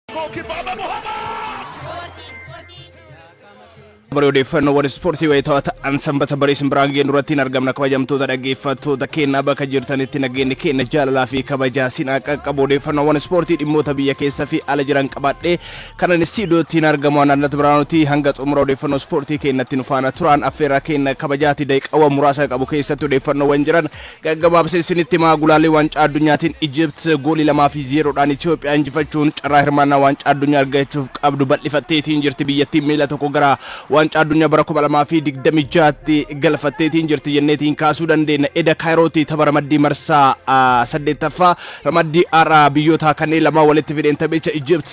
Kibaba Muhammad! Bara odeeffannoowwan ispoortii wayitaawaa ta'an sanbata barii simbiraan geenyu irratti hin argamna kabajamtoota dhaggeeffattoota keenyaa bakka jirtanitti nageenyi keenya jaalalaa fi kabajaa sinaa qaqqabu odeeffannoowwan ispoortii dhimmoota biyya keessa fi ala jiran qabaadhee kanan istiidiyootti hin argamu anannat biraanuti hanga xumura odeeffannoo ispoortii keenyatti nu faana turaan affeerraa keenya kabajaati daqiiqaawwan muraasa qabu keessatti odeeffannoowwan jiran Gaggabaabsee isinitti himaa gulaalii waancaa addunyaatiin Ijipt goolii 2 fi 0 dhaan Itiyoophiyaa injifachuun carraa hirmaannaa waancaa addunyaa argachuuf qabdu bal'ifatteetiin jirti biyyattiin miila tokko gara waancaa addunyaa bara 2026tti galfatteetiin jirti jenneetiin kaasuu dandeenya eda kaayirootti tapha ramaddii marsaa 8ffaa ramaddii har'a biyyoota kanneen lamaa walitti fideen taphicha Ijipt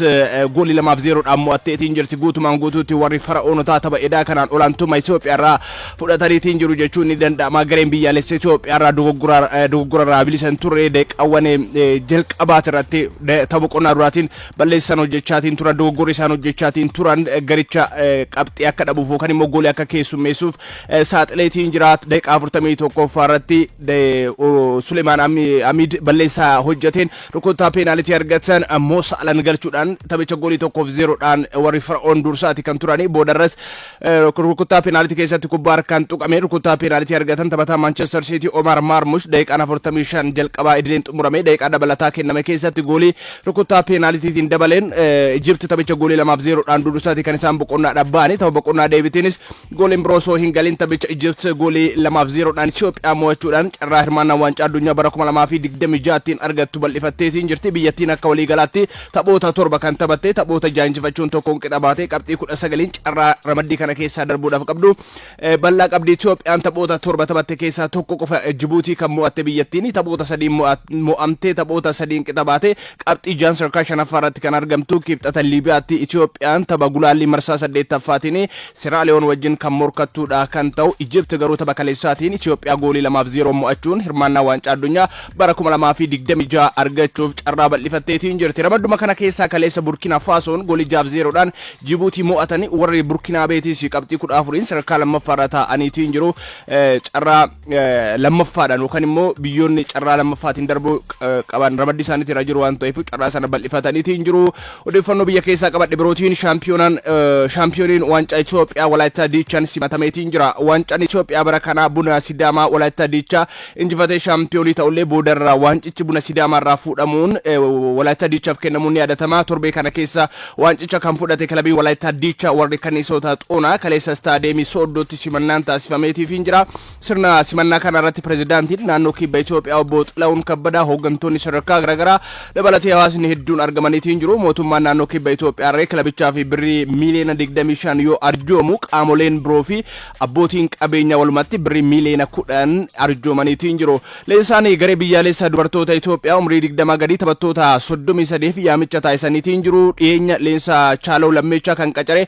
goolii 2 fi 0 dhaan mo'atteetiin jirti guutumaan guutuutti warri fara'oonotaa tapha edaa kanaan olaantummaa Itiyoophiyaa irraa fudhataniitiin jiru jechuun ni danda'ama. Gareen biyyaalessa Itoophiyaa irraa dogoggora dogoggora irraa bilisa hin turre daqiiqaawwan eh, eh, jalqabaati irratti da- tapha qonnaa duraatiin balleessan hojjechaatiin turan dogoggorri isaan hojjechaatiin turan eh, garicha eh, qabxii akka dhabuuf yookaan immoo goolii akka keessummeessuuf eh, saaxileetiin jira daqiiqaa 41ffaa irratti de- o- Sulemaan Ami- Amiid balleessaa hojjeteen rukuttaa peenaalitii argatan ammoo saalan galchuudhaan taphicha goolii tokkoof zeeroodhaan warri Fara'oon dursaati kan turani boodarras Rukuttaa peenaalitii keessatti kubbaa harkaan tuqame rukuttaa peenaalitii argatan taphataa Maanchestar Siitii Omaar Maarmush daqiiqaan 45 jalqabaa idileen xumurame daqiiqaa dabalataa kenname keessatti goolii rukuttaa peenaalitiitiin dabaleen Ijipti taphicha goolii 2f 0 dhaan dudusaati kan isaan boqonnaadhaaf ba'anii tapha boqonnaa deebitiinis gooliin biroo osoo hin galin taphicha Ijipti goolii 2f 0 dhaan Itoophiyaa mo'achuudhaan carraa hirmaannaa waancaa addunyaa bara 2026 tiin argattu bal'ifatteetiin jirti biyyattiin akka waliigalaatti Taphoota torba kan taphatte taphoota jaha injifachuun tokkoon qixa baatee qabxii 19n carraa ramaddii kana keessaa darbuudhaaf qabdu bal'aa qabdi. Itoophiyaan taphoota torba taphatte keessaa tokko qofa Jibuutii kan mo'atte biyyattiin taphoota sadiin mo'amtee taphoota sadiin qixa baatee qabxii jahan sadarkaa shanaffaa irratti kan argamtu Kibxata Liibiyaatti Itoophiyaan tapha gulaallii marsaa saddeettaffaatiin Seraaliyoon wajjin kan morkattu dha kan ta'u Ijipti garuu tapha kaleessaatiin Itiyoophiyaa goolii 2 fi 0'n mo'achuun hirmaannaa Waancaa Addunyaa bara 2026 argachuuf carraa bal'ifatteetiin jirti. Ramadduma kana keessaa kaleessa Burkina Faasoon goolii 6 fi 0 dhaan Jibuutii mo'atani warri Burkinaabeetiis qabxii 14'n sadarkaa 2ffaarra taa'aniitiin jiru. Carraa. lammaffaadhaan yookaan immoo biyyoonni carraa lammaffaatiin darbuu qaban ramaddii isaaniitti irra jiru waan ta'eef carraa sana bal'ifataniiti hin jiru. Odeeffannoo biyya keessaa qabadhe birootiin shaampiyoonaan shaampiyooniin waancaa Itoophiyaa Walaayittaa Diichaan simatameeti hin jira. Waancaan Itoophiyaa bara kanaa buna Sidaamaa Walaayittaa Diichaa injifatee shaampiyoonii ta'ullee boodarraa waancichi buna Sidaamaa irraa fuudhamuun Walaayittaa Diichaaf kennamuun ni yaadatama. Torbee kana keessa Waancicha kan fudhate kilabiin Walaayittaa Diichaa warri Kanniisoota Xoonaa kaleessa Istaadiyeemii Sooddootti simannaan taasifameetiifiin jira. Sirna simannaa kana irratti pirezidaantiin naannoo Kibba Itoophiyaa obbo Xilawun Kabbadaa hooggantoonni sadarkaa garaagaraa dabalatee hawaasni hedduun argamaniitiin jiru. Mootummaan naannoo Kibba Itoophiyaa irree kilabichaa fi birrii miiliyoona 25 yoo arjoomu qaamoleen biroo fi abbootiin qabeenyaa walumatti birrii miiliyoona 10 arjoomaniitiin jiru. Leensaanii garee biyyaaleessa dubartoota Itoophiyaa umrii digdamaa gadii taphattoota soddomii sadeef yaamicha taasisaniitiin jiru. Dhiyeenya leensa Chaalaw Lammeechaa kan qacare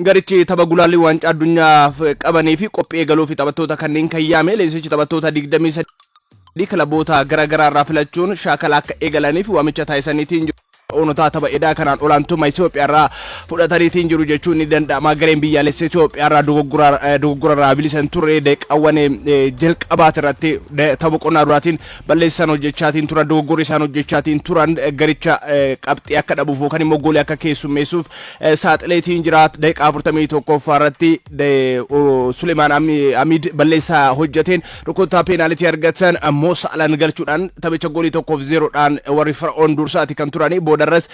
garichi tapha gulaallii waancaa addunyaaf qabaniifi qophii eegaluufi taphattoota kanneen kan yaame leensichi taphattoota digdamii sadii kilaboota gara garaarraa filachuun shaakala akka eegalaniif waamicha taasisaniitiin jiru. Onotaa tapha edaa kanaan olaantummaa Itoophiyaarraa fudhataniitiin jiru jechuun ni danda'ama. Gareen biyyaalessa Itoophiyaarraa dogoggorarraa bilisa hin turre daqiiqaawwan jalqabaatirratti tapha boqonnaa duraatiin balleessa isaan hojjechaatiin turan dogoggorri isaan hojjechaatiin turan garicha qabxii akka dhabuuf yookaan immoo goolii akka keessummeessuuf saaxileetiin jira. Daqiiqaa 41 irratti Suleemaan Amiid balleessaa hojjeteen Rukuttaa peenaalitii argatan Mo Saalaan galchuudhaan taphicha goolii tokkoof zeeroodhaan warri Fara'oon dursaati kan turani. Boodarras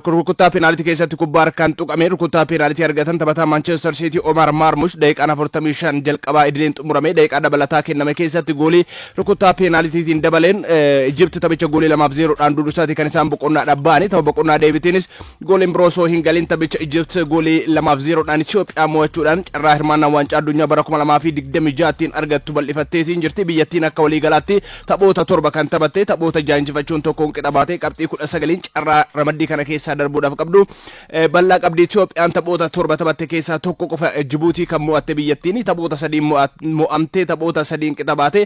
rukuttaa peenaalitii keessatti kubbaa harkaan tuqame rukuttaa peenaalitii argatan taphataa Maanchestar Siitii Omaar Maarmush daqiiqaan 45 jalqabaa idileen xumurame daqiiqaa dabalataa kenname keessatti goolii rukuttaa peenaalitiitiin dabaleen Ijipti taphicha goolii lamaaf zeeroodhaan dursaati kan isaan boqonnaadhaaf ba'ani. Tapha boqonnaa deebitiinis Gooliin biroo osoo hin galin taphicha Ijipt goolii lamaaf zeeroodhaan Itoophiyaa mo'achuudhaan carraa hirmaannaa waancaa addunyaa bara 2026tiin argattu bal'ifatteetiin jirti. Biyyattiin akka waliigalaatti taphoota torba kan taphatte taphoota jaha injifachuun tokkoon qixa baatee qabxii 19n carraa ramaddii kana keessaa darbuudhaaf qabdu bal'aa qabdi. Itoophiyaan taphoota torba taphatte keessaa tokko qofa Jibuutii kan mo'atte biyyattiin taphoota sadiin mo'amtee taphoota sadiin qixa baatee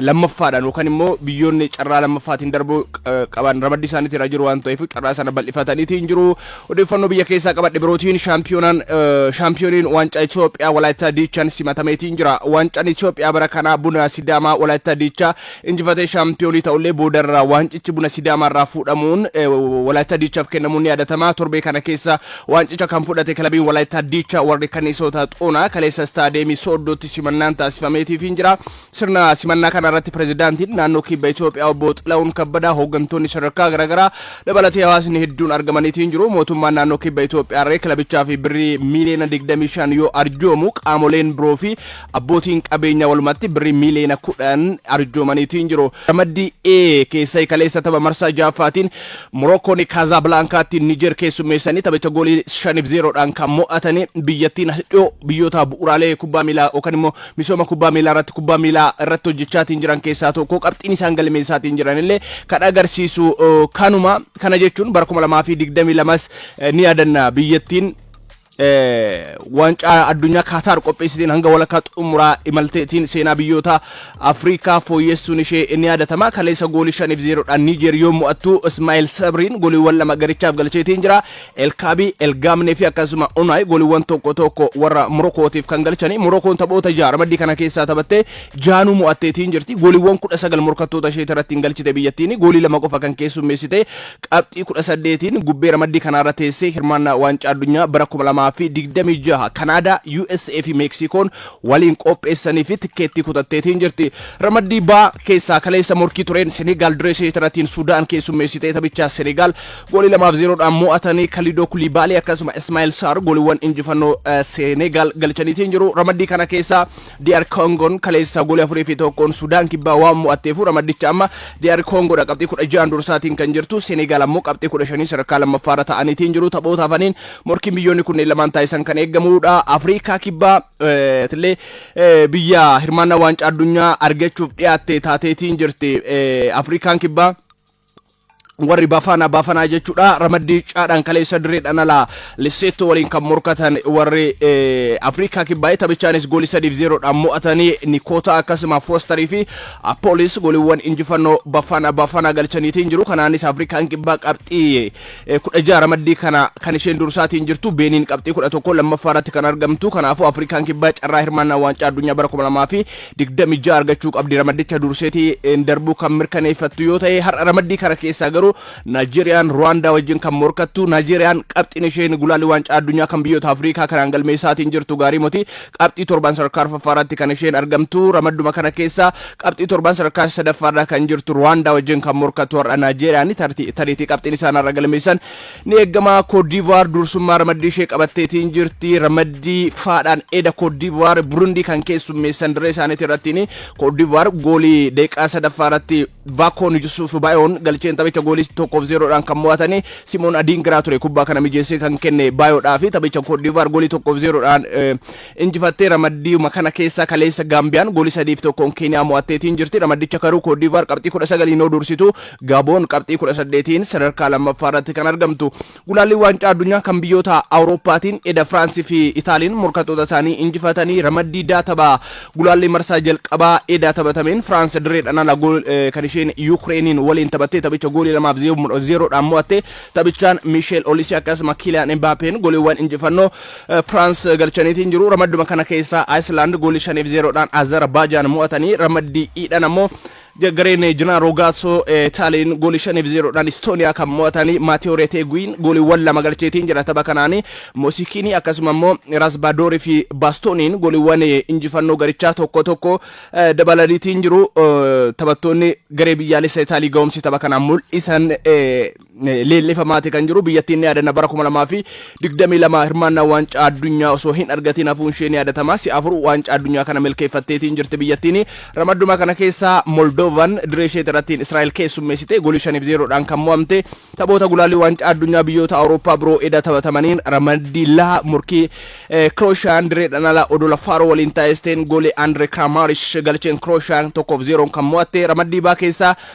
lammaffaadhaan yookaan immoo biyyoonni carraa lammaffaatiin darbuu qaban ramaddii isaaniitti irra jiru waan ta'eef carraa sana bal'ifataniitiin jiru. Odeeffannoo biyya keessaa qabadhe birootiin shaampiyoonaan shaampiyooniin waancaa Itoophiyaa Walaayittaa Diichaan simatameetiin jira. Waancaan Itoophiyaa bara kanaa buna Sidaamaa Walaayittaa Diichaa injifatee shaampiyoonii ta'ullee boodarraa waancichi buna Sidaamaa irraa fuudhamuun Walaayittaa Diichaaf kennamuun ni yaadatama. Torbee kana keessa Waancicha kan fudhate kilabiin Walaayittaa Diichaa warri Kanniisoota Xoonaa kaleessa Istaadiyeemii Sooddootti simannaan taasifameetiifiin jira. Sirna simannaa kana irratti Pireezidaantiin Naannoo Kibba Itoophiyaa Obbo Xilahuun Kabbadaa, hooggantoonni sadarkaa garaagaraa dabalatee hawaasni hedduun argamaniitiin jiru. Mootummaan Naannoo Kibba Itoophiyaarree kilabichaaf birrii miiliyoona 25 yoo arjoomu qaamoleen biroo fi Abbootiin qabeenyaa walumatti birrii miiliyoona kudhan arjoomaniitiin jiru. Ramaddii A keessa kaleessa tapha marsaa ja'affaatiin Morookoon Kaazaablaankaatti Nijeer keessummeessanii taphicha goolii shaniif zeeroodhaan kan mo'atanii biyyattiin as dhiyoo biyyoota bu'uuraalee kubbaa miilaa yookaan immoo misooma kubbaa miilaa irratti kubbaa miilaa irratti hojjechaatiin jiran keessaa tokko qabxiin isaan galmeessaatiin jiran illee kan agarsiisu kanuma kana jechuun bara 2022s ni yaadanna biyyattiin eh, waancaa addunyaa Kaataar qopheessiteen hanga walakkaa xumuraa imalteetiin seenaa biyyoota Afrikaa fooyyessuun ishee ni yaadatama. Kaleessa goolii 5 fi 0 dhaan Niijeer yoo mo'attu Ismaa'il Sabriin gooliiwwan lama garichaaf galcheetiin jira. Elkaabii, Elgaamnee fi akkasuma Unaay gooliiwwan tokko tokko warra Morokootiif kan galchani. Morokoon taphoota ja'a ramaddii kana keessaa taphattee jaanuu mo'atteetiin jirti. Gooliiwwan 19 morkattoota ishee irratti hin galchite biyyattiin goolii lama qofa kan keessummeessite Qabxii 18n gubbee ramaddii kanaarra teessee hirmaannaa Waancaa Addunyaa bara 2026 Kanaadaa, USA fi Meeksiikoon waliin qopheessaniif tikkeettii kutatteetiin jirti. Ramaddii B keessaa kaleessa morkii tureen Senegaal diree isheetirratiin Sudaan keessummeessitee taphichaa Senegaal goolii 2 fi 0 dhaan mo'atanii Kalidoo Kulibaalii akkasuma Ismaa'el Saar gooliiwwan injifannoo Senegaal galchaniitiin jiru. Ramaddii kana keessaa DR Koongoon kaleessa goolii 4 fi 1n Sudaan Kibbaa waan mo'atteefu ramaddicha amma DR Koongoodha qabxii 16 dursaatiin kan jirtu Seneegaal ammoo qabxii 15 sadarkaa lammaffaarra ta'aniitiin jiru taphoota hafaniin morkiin biyyoonni kunneen lamaan taasisan kan eegamuudha Afriikaa Kibbaa tillee biyya hirmaannaa waancaa addunyaa argachuuf dhiyaatte taateetiin jirti Afriikaan Kibbaa warri bafaana bafanaa jechuudha ramaddii caadhaan kaleessa direedhaan alaa lisseettoo waliin kan morkatan warri afrikaa kibbaa'ee taphachaanis goolii sadiif zeeroodhaan mo'atanii nikoota akkasuma foostarii fi appoolis gooliiwwan injifannoo bafaana bafanaa galchaniitiin jiru kanaanis afrikaan kibbaa qabxii kudha jaha ramaddii kana kan isheen dursaatiin jirtu beeniin qabxii kudha tokko lammaffaa irratti kan argamtu kanaafuu afrikaan kibbaa carraa hirmaannaa waancaa addunyaa bara kuma lamaa fi 26 argachuu qabdi. Ramaddicha durseeti darbuu kan mirkaneeffattu yoo ta'e har'a ramaddii kana keessaa garuu Naayijeeriyaan Ruwaandaa wajjin kan morkattu Naayijeeriyaan qabxiin isheen gulaalli waancaa addunyaa kan biyyoota Afrikaa kanaan galmeessaatiin jirtu gaarii moti qabxii torbaan sadarkaa arfaffaa irratti kan isheen argamtu ramadduma kana keessaa qabxii torbaan sadarkaa sadaffaa irra kan jirtu Ruwaandaa wajjin kan morkattu har'a Naayijeeriyaan tariitii qabxiin isaan har'a galmeessan Ni eegama, Koot Diivuwaar dursummaa ramaddii ishee qabatteetiin jirti. Ramaddii F'dhaan eda Koot Diivuwaar Burundii kan keessummeessan dirree isaaniitii irrattiini. Koot Diivuwaar goolii daqiiqaa sadaffaa irratti Vaakoon Yusuuf Baayoon galcheen taphicha goolii 1 fi 0 dhaan kan mo'atani. Simoon Adiingiraa ture kubbaa kana mijeessee kan kenne Baayoodhaafi. Taphicha Koot Diivuwaar goolii 1 fi 0 dhaan injifattee ramaddiyuma kana keessaa kaleessa Gaambiyaan gooli 3 fi 1n Keeniyaa mo'atteetiin jirti. Ramaddicha karuu Koodiivaar qabxii 19n yoo dursitu Gaaboon qabxii 18n sadarkaa lammaffaa irratti kan argamtu. Gulaallii waancaa addunyaa kan biyyoota Awurooppaatiin eda Firaansi fi Itaaliin morkattoota isaanii injifatanii ramaddii daa tapha gulaallii marsaa jalqabaa edaa taphatameen Firaansi dirreedhaan ala kan isheen Yuukireeniin waliin taphattee taphicha goolii 2 fi 0 dhaan mo'atte. Taphichaan Miisheel Olisii akkasuma Kiiliyaan Imbaapeen goliiwwan injifannoo Firaans galchaniitiin jiru. Ramadduma kana keessaa Ayislaand goolii shaniif zeeroodhaan Azerbaajaan mo'atanii ramaddii iidhaan ammoo gareen Jinaa Roogaasoo Taaliin goolii shaniif zeeroodhaan Istooniyaa kan mo'atanii Maatiyoo Reeteeguwiin gooliiwwan lama galcheetiin jira tapha kanaanii Moosikiinii akkasuma immoo Raasbaadoorii fi Baastooniin gooliiwwan injifannoo garichaa tokko tokko dabalaniitiin jiru taphattoonni garee biyyaalessa Itaalii ga'umsi tapha kanaan mul'isan Leellifamaati kan jiru biyyattiin ni yaadanna bara 2022 hirmaannaa waancaa addunyaa osoo hin argatiin hafuun ishee ni yaadatama. Si'a afur waancaa addunyaa kana milkeeffatteetiin jirti biyyattiin. Ramadduma kana keessaa Moldovan diree isheeti irrattiin Israa'el keessummeessite golii 5 fi 0 dhaan kan mo'amte. Taphoota gulaallii waancaa addunyaa biyyoota Awurooppaa biroo eda taphatamaniin ramaddii laha morkii Kirooshaan direedhaan ala odola Faaroo waliin taasisteen goolii Andree Kiraamaarish galcheen Kirooshaan 1 fi 0 kan mo'atte. Ramaddii baa keessaa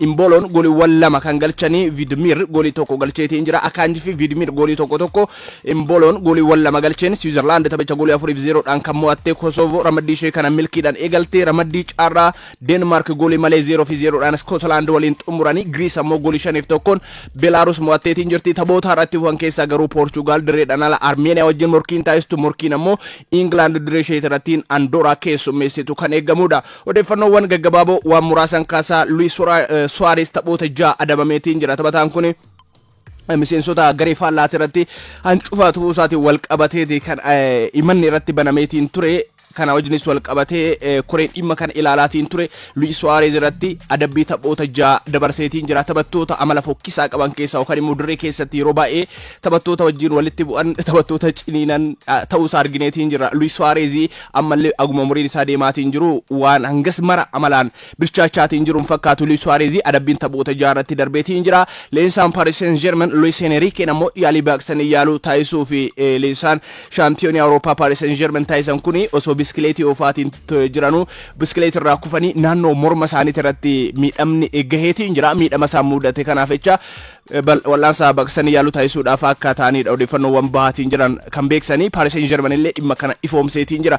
Imbooloon goliwwan lama kan galchanii Vidmir golii tokko galcheetiin jira. Akaanji fi Vidmir golii tokko tokko. Imbooloon goliiwwan lama galcheen Siwiizerlaand taphicha golii afuriif zeeroodhaan kan mo'atte Kosovo ramaddii ishee kana milkiidhaan eegalte. Ramaddii carraa Deenmaark golii malee zeeroo fi zeeroodhaan Iskootilaand waliin xumuranii Giriis ammoo golii shaniif tokkoon Beelaaruus mo'atteetiin jirti. Taphoota har'a itti fufan keessaa garuu Poorchugaal dirreedhaan ala Armeeniyaa wajjin morkiin taasistu morkiin ammoo Ingilaand dirree isheetirrattiin Andooraa keessummeessitu kan eegamudha. Odeeffannoowwan gaggabaaboo waan muraasan kaasaa Luis Suarez taphoota ja'a adabameetiin jira. Taphataan kun miseensota garee faallaati irratti hancufa tufuu isaatiin wal qabateeti kan himanni irratti banameetiin ture. Kana wajjinis wal qabatee koreen dhimma kana ilaalaatiin ture Luis Suarez irratti adabbii taphoota ja'a dabarseetiin jira. Taphattoota amala fokkisaa qaban keessaa yookaan immoo dirree keessatti yeroo baay'ee taphattoota wajjin walitti bu'an taphattoota ciniinan ta'uusaa argineetiin jira. Luis Suarez Ammallee haguma umuriin isaa deemaatiin jiru waan hangas mara amalaan bilchaachaatiin jiru hin fakkaatu Luis Suarez adabbiin taphoota jaha irratti darbeetiin jira. Leensaan Paris Saint Germain Luis Enriqueen ammoo yaalii baaqsanii yaaluu taasisuu fi leensaan shaampiyoonii Awurooppaa Paris Saint Germain taasisan kun osoo biskileetii oofaatiin jiranuu biskileetii irraa kufanii naannoo morma isaaniitii irratti miidhamni gaheetiin jira. Miidhama isaan mudate kanaaf jecha wal'aansa baqsanii yaaluu taasisuudhaaf akka ta'aniidha odeeffannoowwan bahaatiin jiran kan beeksisanii. Paris Saint Germain illee dhimma kana ifoomseetiin jira.